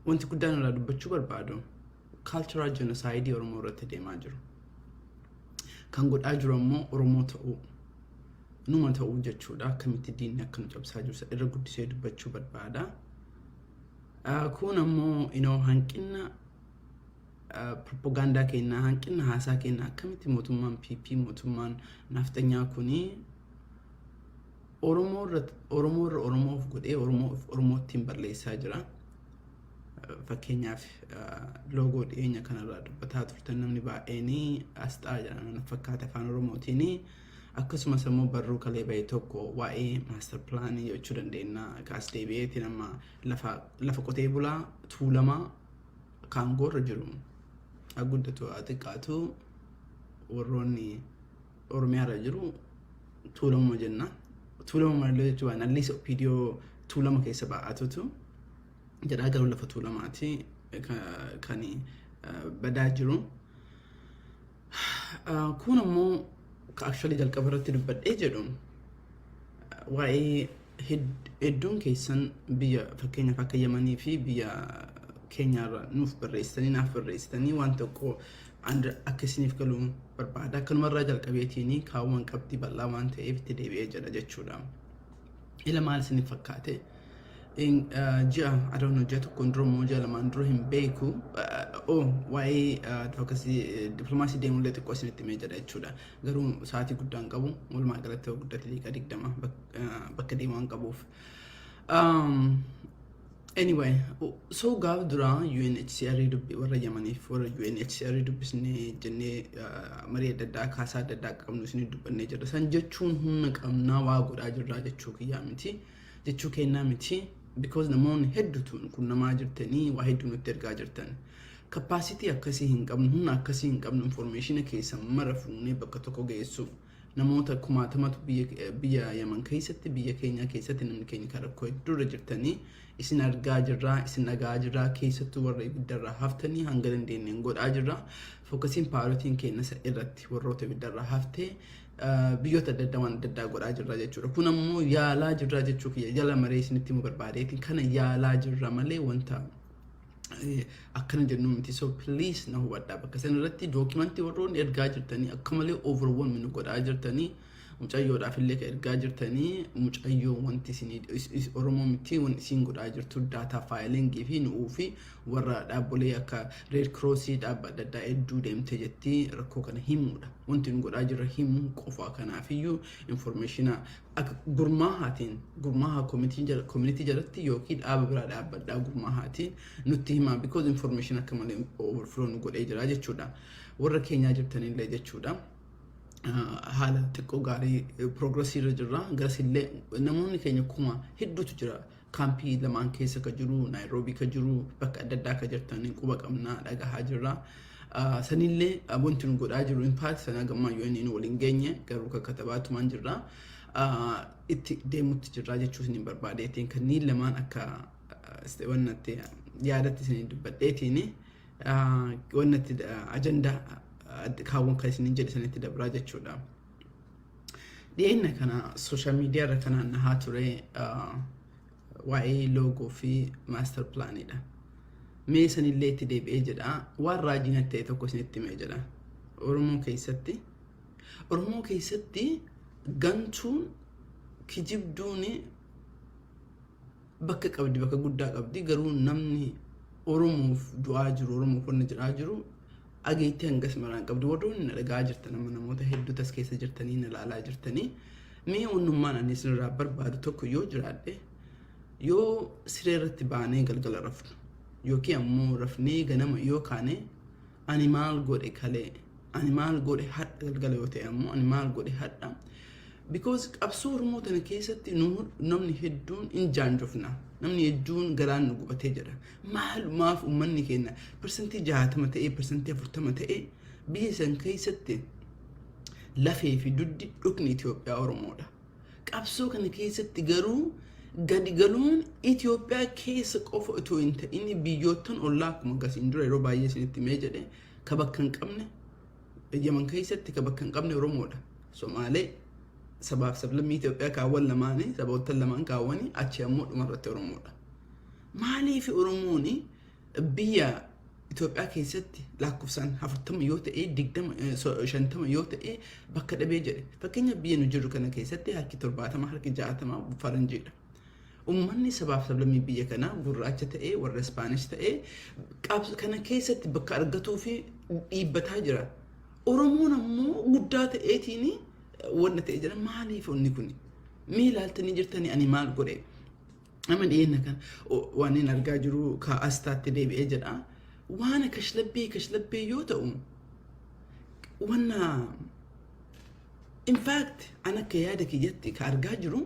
Wanti guddaan irraa dubbachuu barbaadu kaalcharaa jenosaayidii Oromoo irratti deemaa jiru. Kan godhaa jiru ammoo Oromoo ta'uu numa ta'uu jechuudha. Akkamitti diinni akka nu cabsaa jiru irra guddisee dubbachuu barbaada. Kun ammoo inoo hanqina propagaandaa keenyaa hanqina haasaa keenyaa akkamitti mootummaan PP mootummaan naafxanyaa kunii Oromoo irra Oromoo irra Oromoo of godhee Oromoo of Oromoottiin balleessaa jira. Fakkeenyaaf loogoo dhiyeenya kanarraa dubbataa turtan namni baay'een asxaa jedhaman fakkaata afaan Oromootiin akkasumas immoo barruu kalee ba'e tokko waa'ee maastar pilaanii jechuu dandeenya kaas deebi'eetiin amma lafa lafa qotee bulaa tuulamaa kaangoorra jiru haa guddatu haa xiqqaatu warroonni Oromiyaa irra jiru tuulamuma jenna. Tuulama malaloo jechuun waan alliis OPDO tuulama keessa baa'atutu jedhaa garuu lafa tuulamaati kan badaa jiru. Kun ammoo ka actually jalqaba irratti dubbadhee jedhu waa'ee Hedduun keessan biyya fakkeenyaaf akka Yamanii fi biyya keenyaarra nuuf barreessitanii naaf barreessitanii waan tokko akka isiniif galu barbaada. Akkanumarraa jalqabeetiin kaawwan qabxii bal'aa waan ta'eef itti deebi'ee jedha jechuudha. Ila maal isiniif fakkaate? Ji'a adoon hojjaa tokkoon dura immoo ji'a lamaan dura hin beeku. Oo waa'ee advocacy diplomaasii deemullee xiqqoo isinitti himee jedha jechuudha. Garuu sa'aatii guddaan qabu walumaa galatti yoo guddate daqiiqaa digdama bakka deemu waan qabuuf. Anyway, so gaaf duraa UNHCR dubbi warra Yamaniif warra UNHCR dubbisne jennee marii adda addaa kaasaa adda addaa qabnu isin dubbannee jirra. San jechuun humna qabnaa waa godhaa jirraa jechuu kiyyaa miti. Jechuu kennaa miti. Because namoonni hedduutu kun namaa jirtanii waa hedduu nutti ergaa jirtan. Kapaasitii akkasii hin qabnu, humna akkasii hin qabnu, informeeshina keessan mara fuunee bakka tokko geessu. Namoota kumaatamatu biyya Yaman keessatti biyya keenyaa keessatti namni keenya kan rakkoo hedduu irra jirtanii isin argaa jirraa isin dhaga'aa jirraa keessattuu warra ibiddarraa haftanii hanga dandeenyeen godhaa jirraa fokkasiin paarotiin keennasa irratti warroota ibiddarraa haftee biyyoota adda addaa waan adda addaa godhaa jirraa jechuudha kun ammoo yaalaa jirraa jechuu kiyya jala maree isinitti himuu barbaadeetiin kana yaalaa jirra malee wanta eh, akkana jennu miti so please na hubadhaa bakka san irratti dookimantii warroonni ergaa jirtanii akka malee overwhelm nu godhaa jirtanii mucayyoodhaaf illee ka ergaa jirtanii mucayyoo wanti isin is- is- oromoo miti wanti isin godhaa jirtu daataa faayilingii fi nu'uu fi warra dhaabbolee akka reed kiroosii dhaabba adda addaa hedduu deemte jettii rakkoo kana himuudha wanti nu godhaa jirra himuu qofaa kanaafiyyuu informeeshina Akka gurmaahaatiin, gurmaahaa komitii jala, community jalatti yookiin dhaaba biraa dhaabbadhaa gurmaahaatiin nutti himaa because information akka malee overflow nu godhee jira jechuudha. Warra keenyaa jirtanillee jechuudha. haala xiqqoo gaarii progressii irra jirra. Garasillee namoonni keenya kuma hedduutu jira. Kaampii lamaan keessa ka jiru, Naayiroobii ka jiru, bakka adda addaa ka jirtan quba qabna dhagahaa jirra. Sanillee wanti nu godhaa jiru impaati sana gammaa yoo inni nu waliin geenye garuu ka katabaatumaan jirra. Itti deemutti jirra jechuus ni barbaadeetiin kanneen lamaan akka wannatti yaadatti isin dubbadheetiin wannatti ajandaa kaawwan kan isin jedhe sanitti dabraa jechuudha. Dhiyeenya kana sooshaal miidiyaa irra kan naannahaa ture waa'ee loogoo fi maastar pilaaniidha. Mee sanillee itti deebi'ee jedha waan raajii natti ta'e tokko isinitti himee jedha. Oromoo keessatti Oromoo keessatti gantuun kijibduun Bakka qabdi bakka guddaa qabdi garuu namni oromoof du'aa jiru oromoof wanna jedhaa jiru dhageettii hangas maraan qabdi warroonni na dhaga'aa jirtan amma namoota hedduu tas keessa jirtanii na laalaa jirtanii mee wannummaan ani isinirraa barbaadu tokko yoo jiraadhe yoo siree irratti baanee galgala rafnu yookiin ammoo rafnee ganama yoo kaane Ani maal godhe kalee ani maal godhe hadha galgala yoo ta'e ammoo ani maal godhe hadha because qabsoo Oromoo tana keessatti nu namni hedduun in jaanjofna namni hedduun garaan nu gubatee jira maalumaaf ummanni keenya parsantii jaatama ta'ee parsantii afurtama ta'ee biyya san keessatti lafee fi duddi dhukni Itoophiyaa Oromoodha. Qabsoo kana keessatti garuu gadi galuun Itoophiyaa keessa qofa otoo hin ta'in biyyoottan ollaa akkuma gasiin dura yeroo baay'ee isinitti mee jedhe ka bakka hin qabne Yaman keessatti ka bakka hin qabne Oromoodha. Somaalee sabaaf sablammii Itoophiyaa kaawwan lamaanii saboottan lamaan kaawwanii achi ammoo dhumarratti Oromoodha. Maaliif Oromoon Biyya Itoophiyaa keessatti laakkofsaan afurtama yoo ta'e, digdama, eh, so- shantama yoo ta'e bakka dhabee jedhe. Fakkeenyaaf biyya nu jirru kana keessatti harki torbaatama, harki jaatama faranjiidha. Uummanni sabaaf sablammii biyya kanaa gurraacha ta'ee warra Ispaanish ta'ee qabs- kana keessatti bakka argatuu fi dhiibbataa jira. Oromoon ammoo guddaa ta'eetiin wanna ta'e jira. Maaliif onni kun? Mee ilaaltanii jirtanii ani maal godhe? Amma dhiyeenya kan waan inni argaa jiru ka astaatti deebi'ee jedha. Waan kashlabbee kashlabbee yoo ta'u wanna in fact an akka yaada kiyyatti ka argaa jiru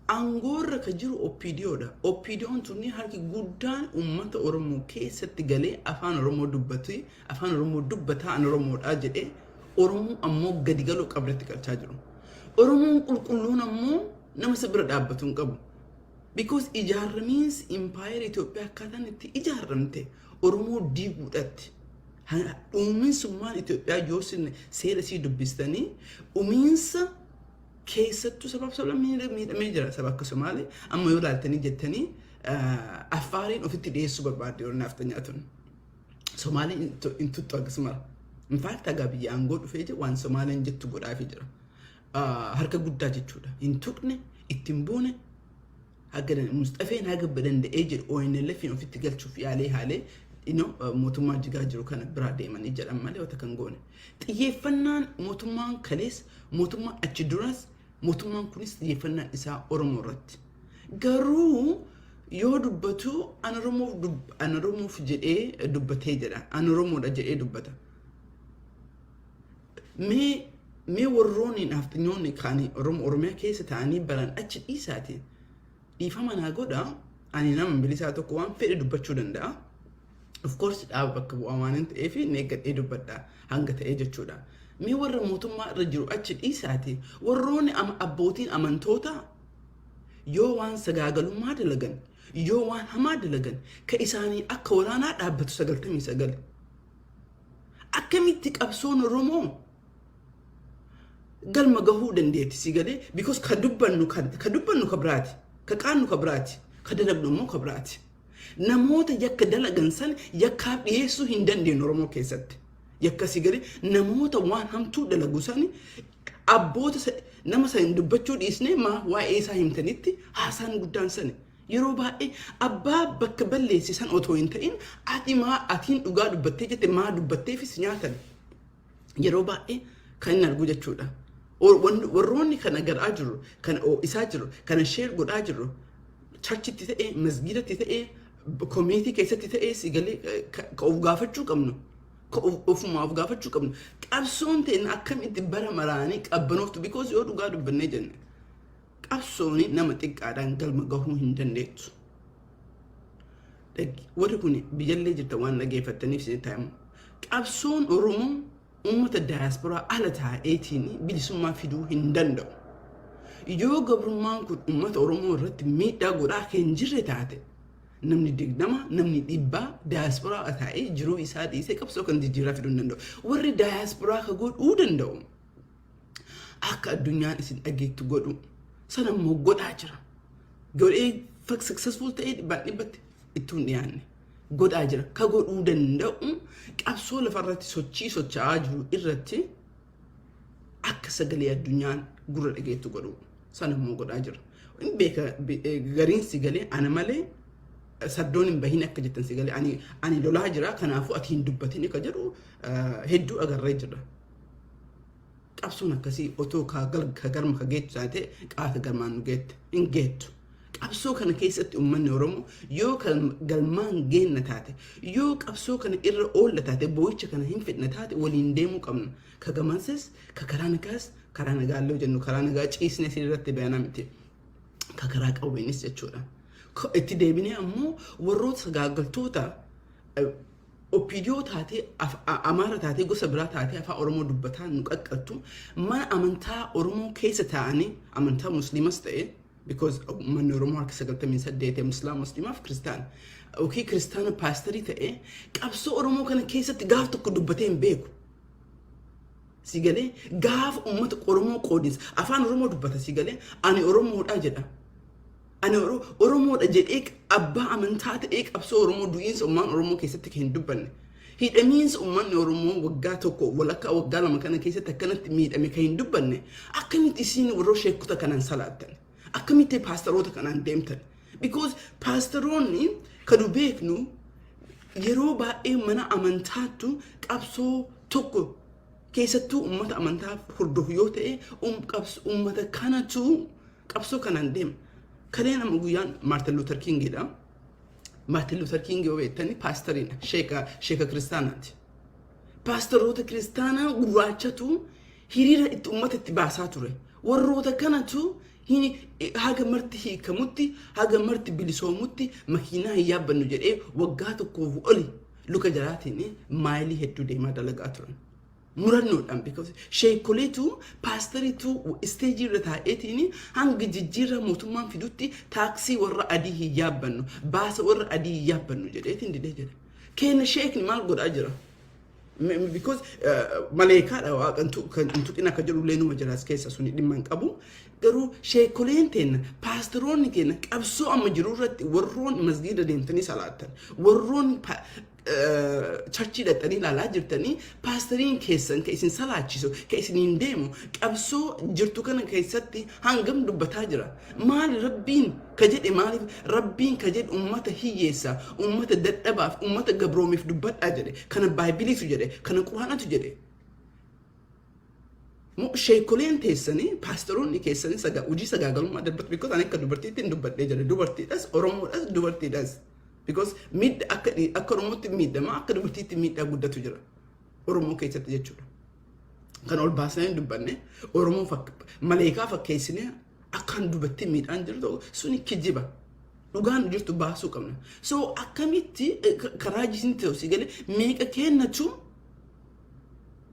aangoorra ka jiru OPDOdha. OPDOn tunni harki guddaan uummata Oromoo keessatti galee afaan Oromoo dubbatu afaan Oromoo dubbataa an Oromoodha jedhee Oromoo ammoo gadi galoo qabdatti galchaa jiru. Oromoon qulqulluun ammoo Nama isa bira dhaabbatu hin qabu. Because ijaarramiinsi impaayera Itoophiyaa akkaataan itti ijaarramte Oromoo diiguudhaatti. Dhumiinsummaan Itoophiyaa yoo sinne seera isii dubbistanii dhumiinsa keessattuu sabaaf sablammii miidhamee jira saba akka Somaalee amma yoo ilaaltanii jettanii Affaariin ofitti dhiyeessuu barbaadde yoo naaf tanyaatun. Somaalee hin tuttu akkasuma. Infaakti hagaa biyya aangoo dhufee jiru waan Somaaleen jettu godhaafii jira. harka guddaa jechuudha. Hin tuqne, itti hin buune, haga dan- Musxafeen haga danda'ee jedhu ONLF'n ofitti galchuuf yaalee haalee ino mootummaa jigaa jiru kana biraa deemanii jedhan malee wata kan goone. Xiyyeeffannaan mootummaan kalees, mootummaan achi duras, mootummaan kunis xiyyeeffannaan isaa Oromoo irratti. Garuu yoo dubbatu an Oromoof dub- an Oromoof jedhee dubbatee jedha. An Oromoodha jedhee dubbata. Mee mee warroonni naafxinyoonni kaanii Oromoo Oromiyaa keessa ta'anii baran achi dhiisaati dhiifama naa godha ani nama bilisaa tokko waan fedhe dubbachuu danda'a. Of course dhaaba bakka bu'aa waan hin ta'eef neeggadhee dubbadha hanga ta'ee jechuudha. Mee warra mootummaa irra jiru achi dhiisaati warroonni ama abbootiin amantoota yoo waan sagaagalummaa dalagan yoo waan hamaa dalagan ka isaanii akka waraanaa dhaabbatu 99. akkamitti qabsoon Oromoo galma gahuu dandeetti si galee because ka dubbannu ka ka dubbannu ka biraati ka qaannu ka biraati ka dalagnu immoo ka biraati namoota yakka dalagan san yakkaaf dhiyeessuu hin dandeenye Oromoo keessatti yakka si galee namoota waan hamtuu dalagu san abboota sa- nama san dubbachuu dhiisnee maa waa'ee isaa himtanitti haasaan guddaan sani Yeroo baay'ee abbaa bakka balleesse sana otoo hin ta'in ati maa atiin dhugaa dubbattee jette maa dubbatteefis nyaatan yeroo baay'ee kan hin arguu jechuudha. Or- wan- Warroonni kana garaa jirru, kana oo'isaa jirru, kana sheer godhaa jirru charchitti ta'ee, masgiidatti ta'ee, komiitii keessatti ta'ee si galee eh, ka ka of gaafachuu qabnu. Ka of- Ofumaa of gaafachuu qabnu. Qabsoon teenya akkamitti bara maraanii qabbanooftu because yoo dhugaa dubbannee jenne. Qabsoon nama xiqqaadhaan galma gahuu hin dandeettu. Warri kun biyyallee jirta waan dhageeffattaniif isin taa'amu. Qabsoon Oromoo uummata daayasporaa ala taa'eetiin bilisummaa fiduu hin danda'u. Yoo gabrummaan kun uummata Oromoo irratti miidhaa godhaa kan jirre taate namni digdama namni dhibbaa daayasporaa taa'ee jiruu isaa dhiisee qabsoo kan jijjiiraa fiduu hin danda'u. Warri daayasporaa ka godhuu danda'u akka addunyaan isin dhageettu godhu sana immoo godhaa jira. Godhee successful ta'ee dhibbaan dhibbatti ittuu hin dhiyaanne. Godhaa jira. Ka godhuu danda'u qabsoo lafarratti sochii socho'aa jiru irratti akka sagalee addunyaan gurra dhageettu godhu sana immoo godhaa jira. Hin beeka gariin si galee ana malee saddoon hin bahin akka jettan si galee ani lolaa jira kanaafuu ati hin dubbatin akka jedhu hedduu agarree jira. Qabsoon akkasii otoo ka gal- ka galma ka geettu taate qaata galmaan nu geette. Hin geettu. Qabsoo kana keessatti uummanni Oromoo yoo kal- galmaan geenna taate, yoo qabsoo kana irra oolla taate, boo'icha kana hin fidna taate waliin deemuu qabna. Ka gamanses, ka karaa nagaas, karaa nagaa illee jennu karaa nagaa ciisnee siin irratti bayanaa miti. Ka karaa qawweenis jechuudha. Ka- Itti deebinee ammoo warroota sagaagaltoota eh, Opdo taatee Amaara taatee gosa biraa taatee afaan Oromoo dubbataa nu qaqqattu mana amantaa Oromoo keessa taa'anii amantaa musliimas ta'e because manni Oromoo harka 98 muslimaa muslimaaf kiristaan yookiin kiristaana paastarii ta'e qabsoo Oromoo kana keessatti gaaf tokko dubbatee hin beeku. Si galee gaaf uummata Oromoo qoodinsa afaan Oromoo dubbata si galee ani Oromoodhaa jedha. Ani Oro- Oromoodha jedhee abbaa amantaa ta'ee qabsoo Oromoo du'iinsa ummaan Oromoo keessatti kan hin dubbanne. Hidhamiinsa ummanni Oromoo waggaa tokko walakkaa waggaa lama kana keessatti akkanatti miidhame kan hin dubbanne akkamitti isiin warra sheekota kanaan salaattan? Akkamitti paastaroota kanaan deemtan? Because paastaroonni kan nu beeknu yeroo baay'ee mana amantaattu qabsoo tokko keessattuu ummata amantaa hordofu yoo ta'e um- qabs- ummata kanatu Qabsoo kanaan deema. Kaleen amma guyyaan Maartin Luuter Kiingiidha. Maartin Luuter Kiingi yoo beektani paastariidha. Sheeka, sheeka kiristaanaati. Paastaroota kiristaanaa gurraachatu hiriira itti uummata itti baasaa ture. Warroota kanatu hi- haga marti hiikamutti, haga marti bilisoomutti makiinaa hin yaabbannu jedhee waggaa tokkoof oli luka jalaatiin maayilii hedduu deemaa dalagaa turan. murannoodhaan because sheekoleetu paasteriitu isteejii irra taa'eetiin hanga jijjiirraa mootummaan fidutti taaksii warra adii hin yaabbannu baasa warra adii hin yaabbannu jedheetiin didee jira keenya sheekni maal godhaa jira Me- me- because eh, maleekaadha waaqa hin tu- kan hin tuqin akka jedhu illee numa jira as keessa suni dhimma hin qabu garuu sheekoleen teenna paasteroonni teenna qabsoo amma jiru irratti warroon masgiida deemtanii salaattan warroon pa- charchii dhaqxanii ilaalaa jirtanii paastariin keessan ka isin salaachisu ka isiniin deemu qabsoo jirtu kana keessatti hangam dubbataa jira maali rabbiin ka jedhe maaliif rabbiin ka jedhe ummata hiyyeessa ummata dadhabaaf ummata gabroomiif dubbadhaa jedhe kana baaybiliitu jedhe kana quraanatu jedhe Moo sheekoleen teessani paastaroonni keessani saga hojii sagaagalummaa darbatu because ani akka dubartiitti hin dubbadhee jira dubartiidhas oromoodhas dubartiidhas because miidha akka dhi- akka oromootti miidhama akka dubartiitti miidhaa guddatu jira oromoo keessatti jechuudha kan ol baasnee hin dubbanne oromoo fak maleekaa fakkeessinee akkaan dubartii miidhaan jiru ta'u suni kijiba dhugaan jirtu baasuu qabna so akkamitti eh, ka- karaa jisin ta'u si galee meeqa kennatu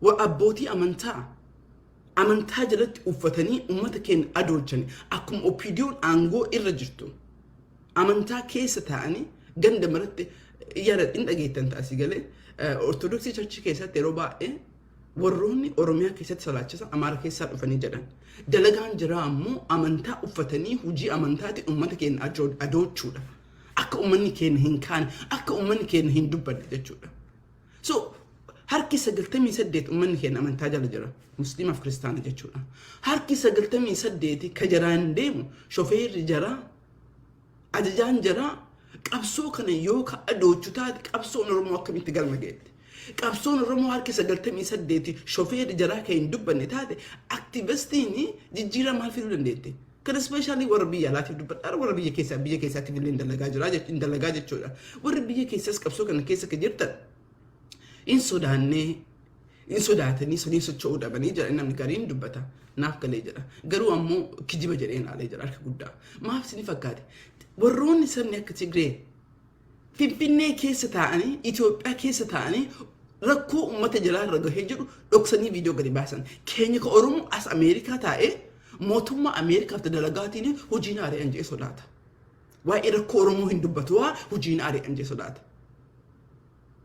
wa abbootii amantaa amantaa jalatti uffatanii ummata keenya adoochan akkuma OPDOn aangoo irra jirtu amantaa keessa taa'anii ganda maratti yaada hin dhageettan taasii galee ortodoksii charchii keessatti yeroo baay'ee warroonni oromiyaa keessatti salaachisan amaara keessaa dhufanii jedhan dalagaan jiraa ammoo amantaa uffatanii hojii amantaati ummata keenya ajo- adoochuudha akka ummanni keenya hin kaane akka ummanni keenya hin dubbanne jechuudha So harki 98 ummanni keenya amantaa jala jira. Musliimaaf kiristaana jechuudha. Harki 98 ka jaraan deemu shofeerri jaraa ajajaan jaraa qabsoo kana yoo ka adoochu taate qabsoon Oromoo akkamitti galma geette. Qabsoon Oromoo harki 98 shofeerri jaraa kan hin dubbanne taate aktiivistiin jijjiiraa maal fiduu dandeette? Kana specially warra biyya alaatiif dubbadhaara warra biyya keessaa biyya keessaatiif illee hin dalagaa jira jech- hin dalagaa jechuudha. Warri biyya keessaas qabsoo kana keessa kan jirtan hin sodaannee hin sodaatanii sanii socho'uu dhabanii jedha namni gariin dubbata naaf galee jedha garuu ammoo kijiba jedhee ilaalee jira harka guddaa maaf isin fakkaate warroonni sabni akka tigree Finfinnee keessa taa'anii, Itoophiyaa keessa taa'anii rakkoo uummata jalaa irra gahee jedhu dhoksanii viidiyoo gadi baasan. Keenya ka Oromoo as Ameerikaa taa'ee mootummaa Ameerikaaf dalagaatiin hojiin ari'an jee sodaata. Waa'ee rakkoo Oromoo hin dubbatu waa hojiin ari'an jee sodaata.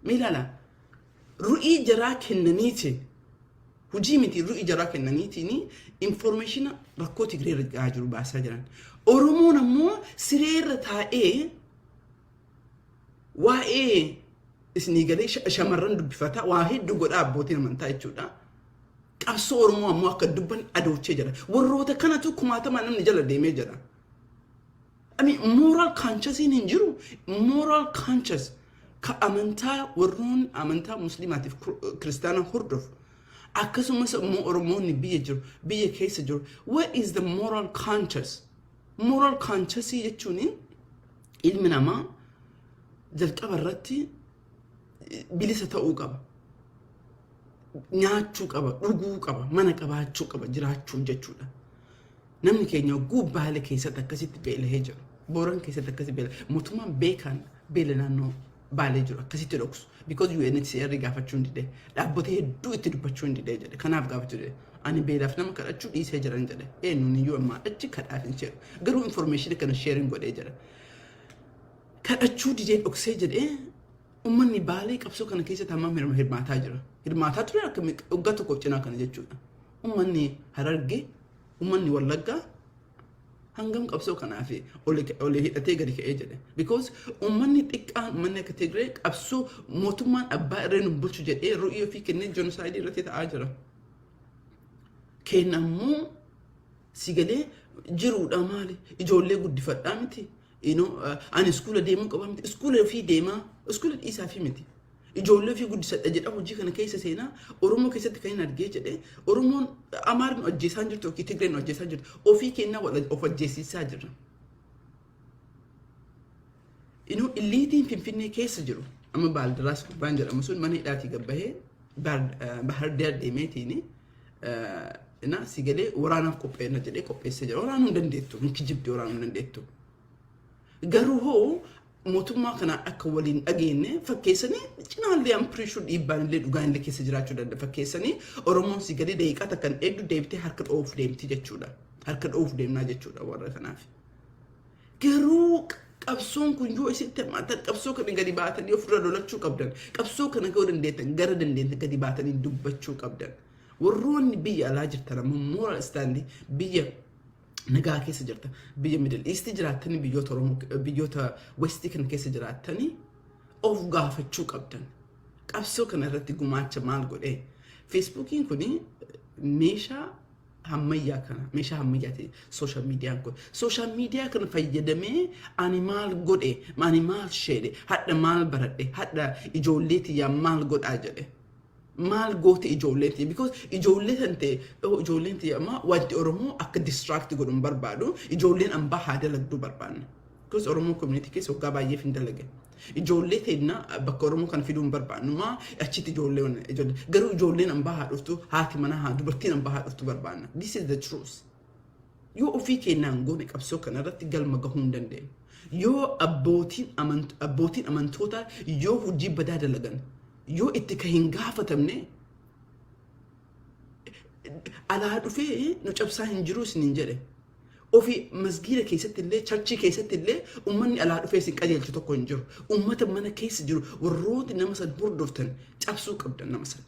Mee ilaala. Ru'ii jaraa kennaniitiin Hujii miti irru ijaraa kennaniitiin informeeshina rakkoo Tigree irra gahaa jiru baasaa jiran. Oromoon ammoo siree irra taa'ee waa'ee isinii galee sha- shamarran dubbifata waa hedduu godhaa abbootiin amantaa jechuudha. Qabsoo Oromoo ammoo akka dubban adoochee jira. Warroota kanatu kumaatamaa namni jala deemee jira. Ani moral consciousiin hin jiru moral conscious ka amantaa warroonni amantaa musliimaatiif kiristaana hordofu akkasumas immoo oromoonni biyya jiru biyya keessa jiru what is the moral conscious moral consciousii jechuun ilmi namaa jalqaba irratti bilisa ta'uu qaba. Nyaachuu qaba, dhuguu qaba, mana qabaachuu qaba jiraachuun jechuudha. Namni keenya oguu baale keessatti akkasitti beelahee jiru. Booran keessatti akkasitti beela. Mootummaan beekaan beela naannoo baalee jiru akkasitti dhoksu. Because UNHCR gaafachuu hin didee. Dhaabbota hedduu itti dubbachuu hin didee jedhe. Kanaaf gaafachuu didee. Ani beelaaf nama kadhachuu dhiisee jiran jedhe. Eenyuun iyyuu ammaa achi kadhaaf hin seenu. Garuu information kana sharing godhee jira. kadhachuu didee dhoksee jedhee ummanni baalee qabsoo kana keessatti hammam hirma- hirmaataa jira. Hirmaataa ture akka mi- waggaa tokkoof cinaa kana jechuudha. Ummanni hararge, ummanni wallaggaa hangam qabsoo kanaaf olii hidhatee gadi ka'ee jedhe. Because ummanni xiqqaan ummanni akka Tigree qabsoo mootummaan abbaa irree nu bulchu jedhee ru'ii ofii kennee jenosaayidii irratti ta'aa jira. Keenna immoo si galee jiruudha maali? Ijoollee guddifadhaa miti. You know, uh, ani iskuula deemuu qaba miti. Iskuula ofii deemaa, iskuula dhiisaa fi miti. Ijoollee ofii guddisadha jedha hojii kana keessa seenaa Oromoo keessatti kan hin argee jedhee Oromoon Amaarri ajjeesaan jirtu yookiin Tigreen ajjeesaan jirtu ofii kennaa wal of ajjeesisaa jirra. Inuu illiitiin Finfinnee keessa jiru amma Baaldiraas gubbaan jedhamu sun mana hidhaatii gabbahee Bahar Daar deemeetiin na si galee waraanaaf qopheessa jedhee qopheessee jira. Waraanuu hin dandeettu. Hin kijibdi waraanuu hin dandeettu. Garuu hoo mootummaa kanaan akka waliin dhageenye fakkeessanii cinaallee ampiriishuu dhiibbaan illee dhugaa illee keessa jiraachuu danda'a fakkeessanii Oromoon si galee daqiiqaa takkan eegdu deebitee harka dhoofuuf deemti jechuudha. Harka dhoofuuf deemnaa jechuudha warra kanaaf. Garuu qabsoon kun yoo isitti hammaatan qabsoo kana gadi baatanii ofirra lolachuu qabdan. Qabsoo kana yoo dandeettan gara dandeettan gadi baatanii dubbachuu qabdan. Warroonni biyya alaa jirtan ammoo moral stand biyya nagaa keessa jirtan biyya middle east jiraattanii biyyoota oromoo biyyoota westii kana keessa jiraattanii of gaafachuu qabdan. Qabsoo kana irratti gumaacha maal godhee? Feesbuukiin kun meeshaa hammayyaa kana meeshaa hammayyaa ta'e sooshaal miidiyaan kun sooshaal miidiyaa kana fayyadamee ani maal godhe ani maal sheedhe hadha maal baradhe hadha ijoollee tiyyaa maal godhaa jedhe maal goote ijoolleen tiyya because ijoollee san ta'e oh, ijoolleen tiyya amma wanti oromoo akka distraakti godhu hin barbaadu ijoolleen ambaa haa dalagduu barbaanne Because Oromoo community keessa waggaa baay'eef hin dalage. Ijoollee teenna bakka Oromoo kana fiduu hin barbaannu. Maa achitti ijoollee wan- ijoollee. Garuu ijoolleen ambaa haa dhuftu haati manaa haa dubartiin ambaa haa dhuftu barbaanna. This is the truth. Yoo ofii keenyaan goone qabsoo kanarratti galma gahuu hin dandeenyu. Yoo abbootiin amant- abbootiin amantootaa yoo hojii badaa dalagan yoo itti ka hin gaafatamne alaa dhufee nu cabsaa hin jiruu isiniin jedhe. Ofii masgiida keessatti illee charchii keessatti illee uummanni alaa dhufee isin qajeelchu tokko hin jiru. Uummata mana keessa jiru warrooti nama san hordoftan cabsuu qabdan nama san.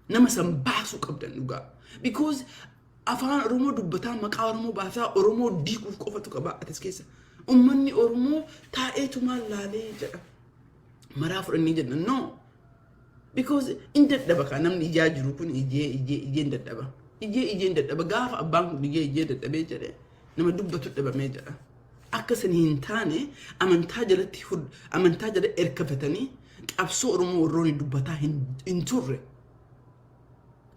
Nama san baasuu qabdan dhugaa. Because afaan Oromoo dubbataa maqaa Oromoo baasaa Oromoo diiguuf qofatu qaba atis keessa. Uummanni Oromoo taa'eetumaan laalee jedha. Maraa fudhannee jenna. No. Because in dadhaba kaa namni ijaa jiru kun ijee ijee ijeen dadhaba. Ijee ijeen dadhaba gaafa abbaan kun ijee ijee dadhabee jedhe nama dubbatu dhabamee jedha. Akka isin hin taane amantaa jalatti hud- amantaa jala erkafatanii qabsoo Oromoo warroonni dubbataa hin, hin turre.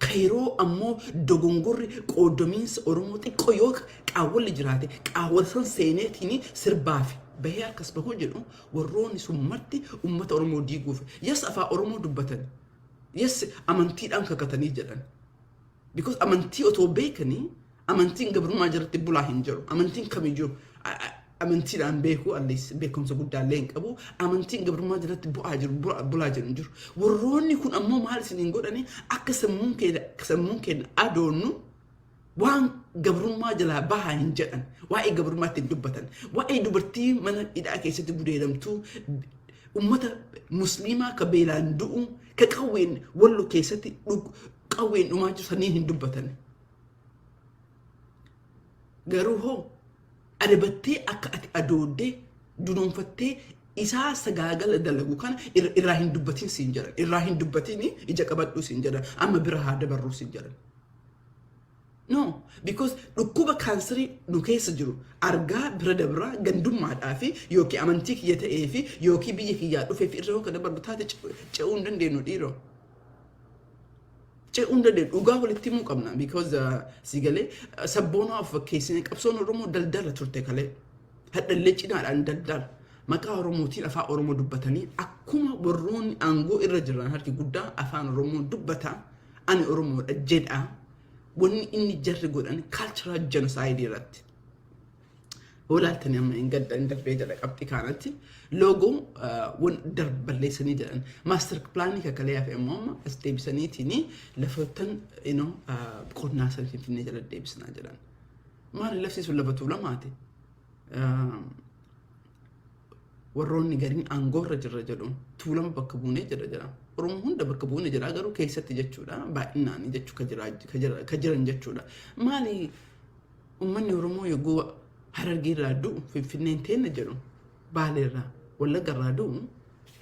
Kairoo ammoo dogongorri qooddamiinsa Oromoo xiqqoo yoo qaawwalli jiraate qaawwala san seeneetiin sirbaafi bahee harkas bahuu jedhu warroonni sun marti ummata Oromoo diiguuf yes afaan Oromoo dubbatan yes amantiidhaan kakatanii jedhan because amantii otoo beekanii Amantiin gabrummaa jalatti bulaa hin jiru. Amantiin kamiyyuu amantiidhaan beekuu allees beekumsa guddaa illee hin qabu. Amantiin gabrummaa jalatti bu'aa jiru bulaa jiru hin jiru. Warroonni kun ammoo maal isin hin godhani akka sammuun keenya sammuun keenya adoonnu waan gabrummaa jalaa bahaa hin jedhan waa'ee gabrummaatti hin dubbatan waa'ee dubartii mana hidhaa keessatti gudeedamtuu ummata musliimaa ka beelaan du'u ka qawween wallo keessatti qawween dhumaa jiru saniin hin dubbatan. Garuu hoo adabattee akka ati adooddee dunoonfattee isaa sagaagala dalagu kana ir- irraa hin dubbatin siin jedhan irraa hin dubbatin ija qabadhuu siin jedhan amma bira haa dabarruu siin jedhan no because dhukkuba kaansarii nu keessa jiru argaa bira dabraa gandummaadhaa fi yookiin amantii kiyya ta'ee fi yookiin biyya kiyyaa dhufee fi irra yoo ka dabarru taate ce- ce'uu hin dandeenyu dhiiroo ce'uu hin dandeenyu. Dhugaa walitti himuu qabna. Because si galee sabboonaa of fakkeessine qabsoon Oromoo daldala turte kalee. Hadhallee cinaadhaan daldala. Maqaa Oromootiin afaan Oromoo dubbatanii akkuma warroonni aangoo irra jiran harki guddaa afaan Oromoo dubbata. Ani Oromoodha jedha. Wanni inni jarri godhan kaalcharaa jenosaayidii irratti. Hoolaaltanii amma hin gadda hin darbee jedha qabxii kaanatti loogoo wan balleessanii jedhan maaster pilaanii kakalee hafe immoo amma as deebisaniitiin lafoottan inoo qonnaa san finfinnee jala deebisinaa jedhan. Maali lafti sun lafa tuulamaati. warroonni gariin aangoorra jirra jedhu tuulama bakka buunee jira jedha. Oromoo hunda bakka buune jira garuu keessatti jechuudha baay'inaan jechuu ka jira- ka jira- ka jiran jechuudha. Maali uummanni Oromoo yogguu harargeerraa du'u finfinneen teenna jedhu baaleerraa wallaggarraa du'u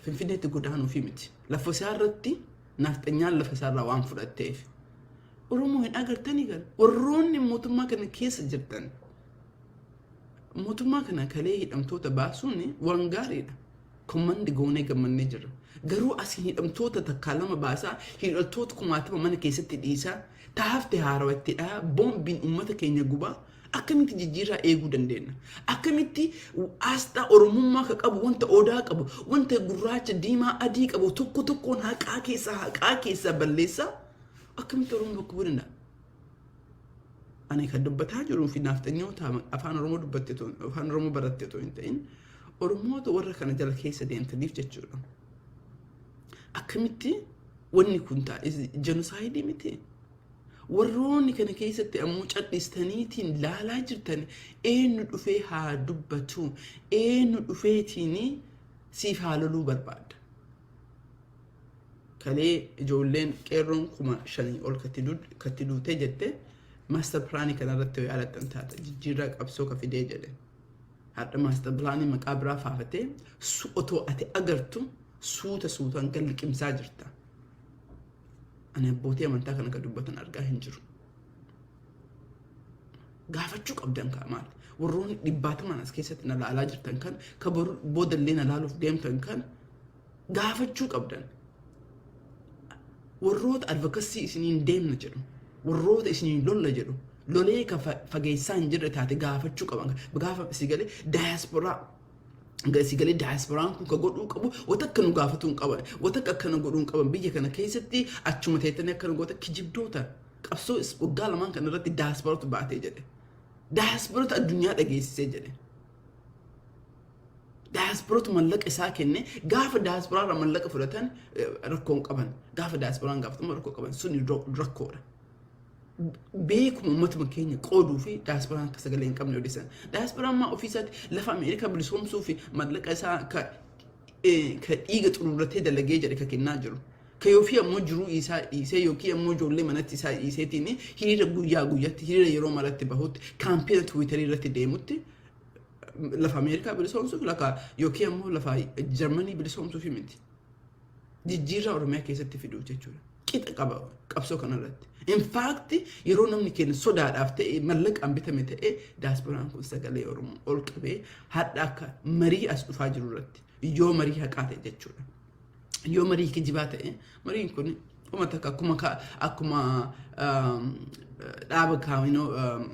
finfinneetti godaanuufi miti. Lafa isaa irratti naafxanyaan lafa isaarraa waan fudhatteef. Oromoo hin agartanii gal warroonni mootummaa kana keessa jirtan Mootummaa kana kalee hidhamtoota baasuun waan gaariidha. Kommandi goonee gammannee jirra. Garuu asiin hidhamtoota takkaa lama baasaa hidhattoota kumaatama mana keessatti dhiisaa ta hafte haarawa itti dhahaa boombiin uummata keenya gubaa akkamitti jijjiirraa eeguu dandeenya? Akkamitti aasxaa Oromummaa ka qabu wanta odaa qabu wanta gurraacha diimaa adii qabu tokko tokkoon haqaa keessaa haqaa keessaa balleessaa akkamitti Oromoo bakka bu'uu danda'a? Ani kan dubbataa jiruu fi naafxanyoota afaan Oromoo dubbatte tun afaan Oromoo baratte tun hin ta'in Oromoota warra kana jala keessa deemtaniif jechuudha. Akkamitti wanni kun taa'e jenosaayidii miti. Warroonni kana keessatti ammoo cadhistaniitiin laalaa jirtan eenyu dhufee haa dubbatu eenyu dhufeetiin siif haa loluu barbaada. kalee ijoolleen qeerroon kuma shanii ol katti duutee jette maastar pilaanii kanarratti yoo yaalattan taata jijjiirraa qabsoo ka fidee jedhe hadha maastar pilaanii maqaa biraa faafatee su otoo ati agartu suuta suutaan kan liqimsaa jirta ani abbootii amantaa kana ka dubbatan argaa hin jiru gaafachuu qabdan kaa maal warroonni dhibbaatamaan as keessatti na laalaa jirtan kan ka boodallee na laaluuf deemtan kan gaafachuu qabdan warroota advocacy isiniin deemna jedhu warroota isiniin lolla jedhu lolee ka fa- fageessaa hin jirre taate gaafachuu qaban gaafa si galee daayasporaa si galee daayasporaan kun ka godhuu qabu wata akka nu gaafatuu hin qaban wata akka akkana godhuu hin qaban biyya kana keessatti achuma teettanii akkana goota kijibdoota qabsoo is- waggaa lamaan kana irratti daayasporatu baatee jedhe daayasporatu addunyaa dhageessisee jedhe Daayasporatu mallaqa isaa kenne gaafa daayasporaa irraa mallaqa fudhatan eh, rakkoo hin qaban. Gaafa daayasporaan gaafatamu rakkoo qaban sun rak- rakkoodha. Beekuma uummatuma keenya qooduu fi daayasporaan akka sagalee hin qabne odeessan. Daayasporaan maa ofii isaatti lafa Ameerikaa bilisoomsuu fi mallaqa isaa ka eh, ka dhiiga xururratee dalagee jedhe ka kennaa jiru. Kee ofii ammoo jiruu isaa dhiisee yookiin ammoo ijoollee manatti isaa dhiiseetiin hiriira guyyaa guyyatti hiriira yeroo maratti bahutti kaampiina tiwiitarii irratti deemutti lafa Ameerikaa bilisoomsuuf lafa yookiin ammoo lafa Jarmanii bilisoomsuuf miti. Jijjiirraa Oromiyaa keessatti fiduuf jechuudha. Qixa qaba qabsoo kanarratti. Infaakti yeroo namni keenya sodaadhaaf ta'e mallaqaan bitame ta'e daaspooraan kun sagalee Oromoo ol qabee hadha akka marii as dhufaa jiru irratti yoo marii haqaa ta'e jechuudha. yoo marii kijibaa ta'e mariin kun uma takka akkuma ka- akkuma um, dhaaba kaawinoo um,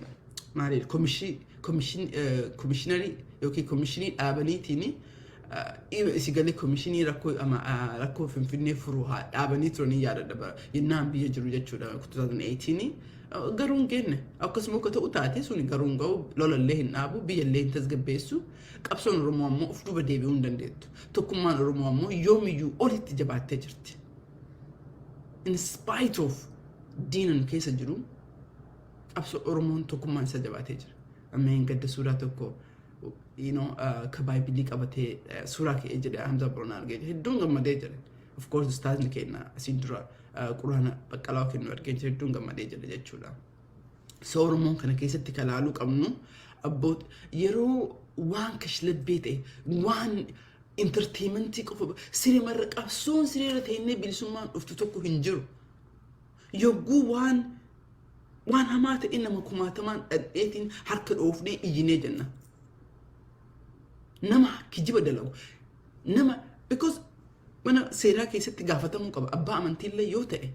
maaliif komishin komishin eh, komishinarii yookiin komishinii dhaabaniitiin uh, dhiiba isi galee komishinii rakkoo ama ah, rakkoo finfinnee furuu haa dhaabanii turanii yaadadha bara yennaan biyya jiru jechuudha 2018 Uh, garuu hin geenne akkasuma akka ta'u taate sun garuu hin ga'u lolallee hin dhaabu biyyallee hin tasgabbeessu Qabsoon Oromoo ammoo of duuba deebi'uu hin dandeettu. Tokkummaan Oromoo ammoo yoomiyyuu olitti jabaattee jirti. In spite of diina nu keessa jiru qabsoo Oromoon tokkummaan isaa jabaatee jira. Ammeen gadda suuraa tokko you know, uh, ka baaybilii qabatee uh, suuraa ka'ee jedhe Hamza Boronaa argee jedhe hedduun gammadee jedhe. Of course ustaazni keenya asiin dura uh, quraana baqqalaa kennu argee jedhe hedduun gammadee jedhe jechuudha. soormoo kana keessatti kan ilaaluu qabnu abboot yeroo waan kashlabbee ta'e waan intarteementii qofa sirimarra qabsoon siriirra ta'inne bilisummaan dhuftu tokko hin jiru. Yogguu waan waan hamaa ta'e nama kumaatamaan dhadheetiin harka dhoofnee iyyinee jenna. Nama kijiba dalagu nama because mana seeraa keessatti gaafatamuu qaba abbaa amantiillee yoo ta'e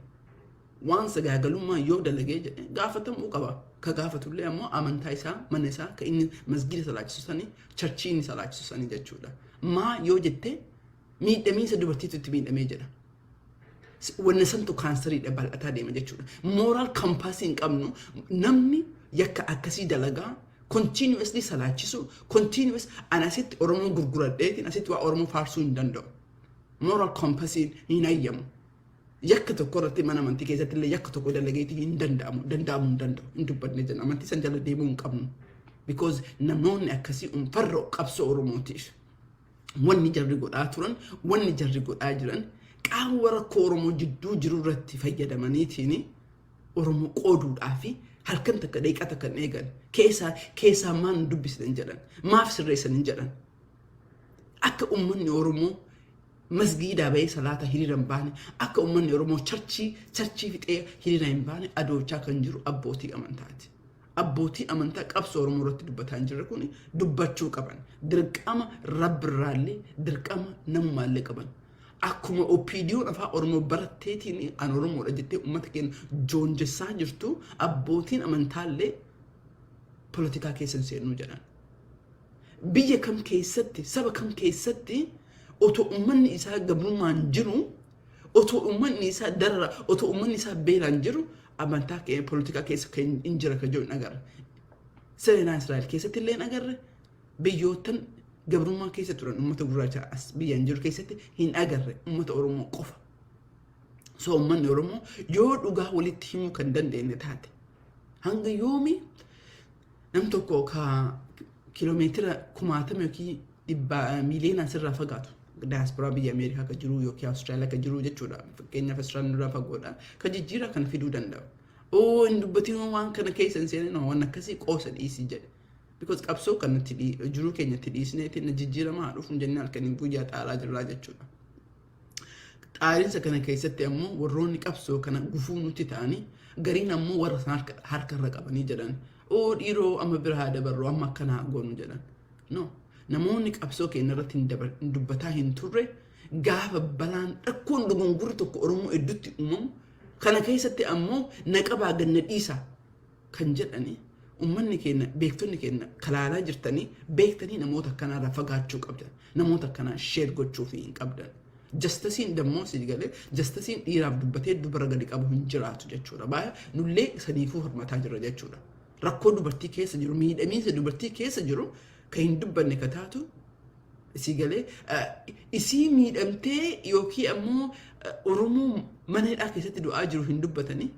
waan sagaagalummaa yoo dalagee jedhe gaafatamuu qaba. Ka gaafatullee ammoo amantaa isaa, mana isaa, ka inni masgiida salaachisu sanii, charchii inni salaachisu sanii jechuudha. Maa yoo jette miidhamiinsa dubartiitu itti miidhamee jedha. Wanna santu kaansariidha bal'ataa deema jechuudha. Mooraal kampaasii hin qabnu namni yakka akkasii dalagaa continuously salaachisu continuous an asitti Oromoo gurguradheetiin asitti waa Oromoo faarsuu hin danda'u. Mooraal kampaasiin hin hayyamu. yakka tokko irratti mana amantii keessatti illee yakka tokko dalageeti hin danda'amu danda'amu hin danda'u hin dubbanne jenna amantii san jala deemuu hin qabnu because namoonni akkasii un farra qabsoo oromootiif wanni jarri godhaa turan wanni jarri godhaa jiran qaawwa rakkoo oromoo jidduu jiru irratti fayyadamaniitiin oromoo qooduudhaa fi halkan takka deeqaa takka hin eegan keessaa keessaa maal hin dubbisne hin jedhan maaf sirreessan hin jedhan akka ummanni oromoo Masgiidaa bahee salaata hiriira hin baane akka ummanni Oromoo charchii charchii fixee hiriira hin baane adoochaa kan jiru abbootii amantaati. Abbootii amantaa qabsoo Oromoo irratti dubbataa hin jirre kuni dubbachuu qaban. Dirqama Rabbirraallee dirqama namumaallee qaban. Akkuma OPDOn afaa Oromoo baratteetiin an Oromoodha jettee ummata keenya joonjessaa jirtu abbootiin amantaallee politikaa keessa hin seennuu jedhan. Biyya kam keessatti saba kam keessatti Otoo ummanni isaa gabrummaan jiru, otoo ummanni isaa darara, otoo ummanni isaa beelaan jiru amantaa keenya poolitikaa keessa kan hin jira kan jiru hin agarre. Seenaa Israa'el keessatti illee hin agarre. Biyyoottan gabrummaa keessa turan uummata gurraacha as biyyaan jiru keessatti hin agarre uummata Oromoo qofa. So uummanni Oromoo yoo dhugaa walitti himuu kan dandeenye taate hanga yoomii Nam tokko ka kilomeetira kumaatama yookiin dhibba miiliyoonaan sirraa fagaatu daayasporaa biyya Ameerikaa ka jiru yookiin Awustiraaliyaa ka jiru jechuudha. Fakkeenyaaf Awustiraaliyaan nurraa fagoodha. Ka jijjiiraa kana fiduu danda'u. Oo hin dubbatiin waan kana keessa hin seenin waan akkasii qoosa dhiisii jedhe. Because qabsoo kan nuti jiruu keenya itti dhiisnee itti jijjiiramaa dhufuun jennee halkaniin guyyaa xaaraa jirraa jechuudha. Qaalinsa kana keessatti ammoo warroonni qabsoo kana gufuu nutti ta'anii gariin ammoo warra sana harka, harka irra qabanii jedhan oo dhiiroo amma bira haa dabarru amma akkana haa goonu jedhan. No. Namoonni qabsoo keenya irratti hin dabar- hin dubbataa hin turre gaafa balaan rakkoon dogongorri tokko Oromoo hedduutti uumamu kana keessatti ammoo na qabaa ganna dhiisaa kan jedhani ummanni keenya beektonni keenya kalaalaa jirtanii beektanii namoota akkanaarraa fagaachuu qabdan namoota akkanaa sheer gochuu fi hin qabdan jastasiin dammoo si galee jastasiin dhiiraaf dubbatee dubara gadi qabu hin jiraatu jechuudha baay'ee nullee saniifuu hirmataa jirra jechuudha rakkoo dubartii keessa jiru miidhamiinsa dubartii keessa jiru kan hin dubbanne ka taatu isii galee isii miidhamtee yookiin ammoo oromoo mana hidhaa keessatti du'aa jiru hin dubbatanii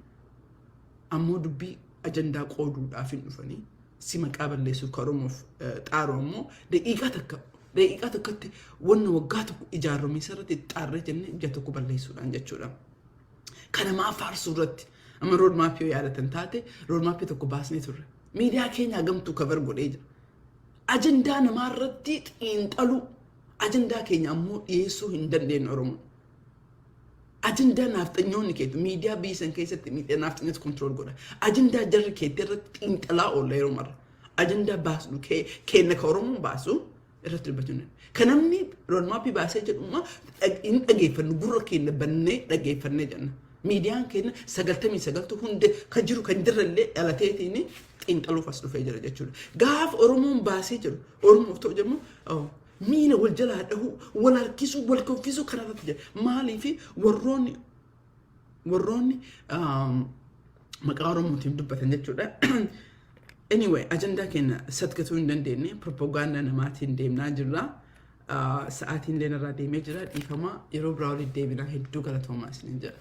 ammoo dubbii ajandaa qooduudhaaf hin dhufanii si maqaa balleessuuf ka Oromoof eh, xaaru ammoo daqiiqaa takka daqiiqaa tokkotti wanna waggaa tokko ijaarramiisa irratti itti xaarree jennee ija tokko balleessuudhaan jechuudha. Kana maa faarsuu irratti amma roodmaappii yoo yaadatan taate roodmaappii tokko baasnee turre. Miidiyaa keenya hagamtuu kabar godhee jira. Ajandaa namaa irratti xiinxaluu ajandaa keenya ammoo dhiyeessuu hin dandeenye Oromoon. Ajandaa naafxanyoonni keetu miidiyaa biyya san keessatti miidiyaa naafxanyatu kontirool godha. Ajandaa jarri keetti irratti xiinxalaa oolla yeroo marra. Ajandaa baasnu kee keenna ka Oromoon baasu irratti dubbachuu Ka namni roodmaappii baasee jedhummaa hin dhageeffannu gurra keenna bannee dhageeffannee jenna. Miidiyaan keenna sagaltamii sagaltu hundi ka jiru kan jirrellee dhalateetiin xiinxaluuf as dhufee jira jechuudha. Gaaf Oromoon baasee jiru Oromoof ta'u jedhamu Miila wal jalaa dhahuu, wal harkisuu, wal kuffisuu kana irratti jira. Maaliif warroonni warroonni um, maqaa Oromootiin dubbatan jechuudha. Anyway, ajandaa keenya satgatuu hin dandeenye, propagaandaa namaatiin deemnaa jirra. Uh, Sa'aatiin illee narraa deemee jira, dhiifama yeroo biraa walitti deebinaa hedduu galatoomaa isiniin jedha.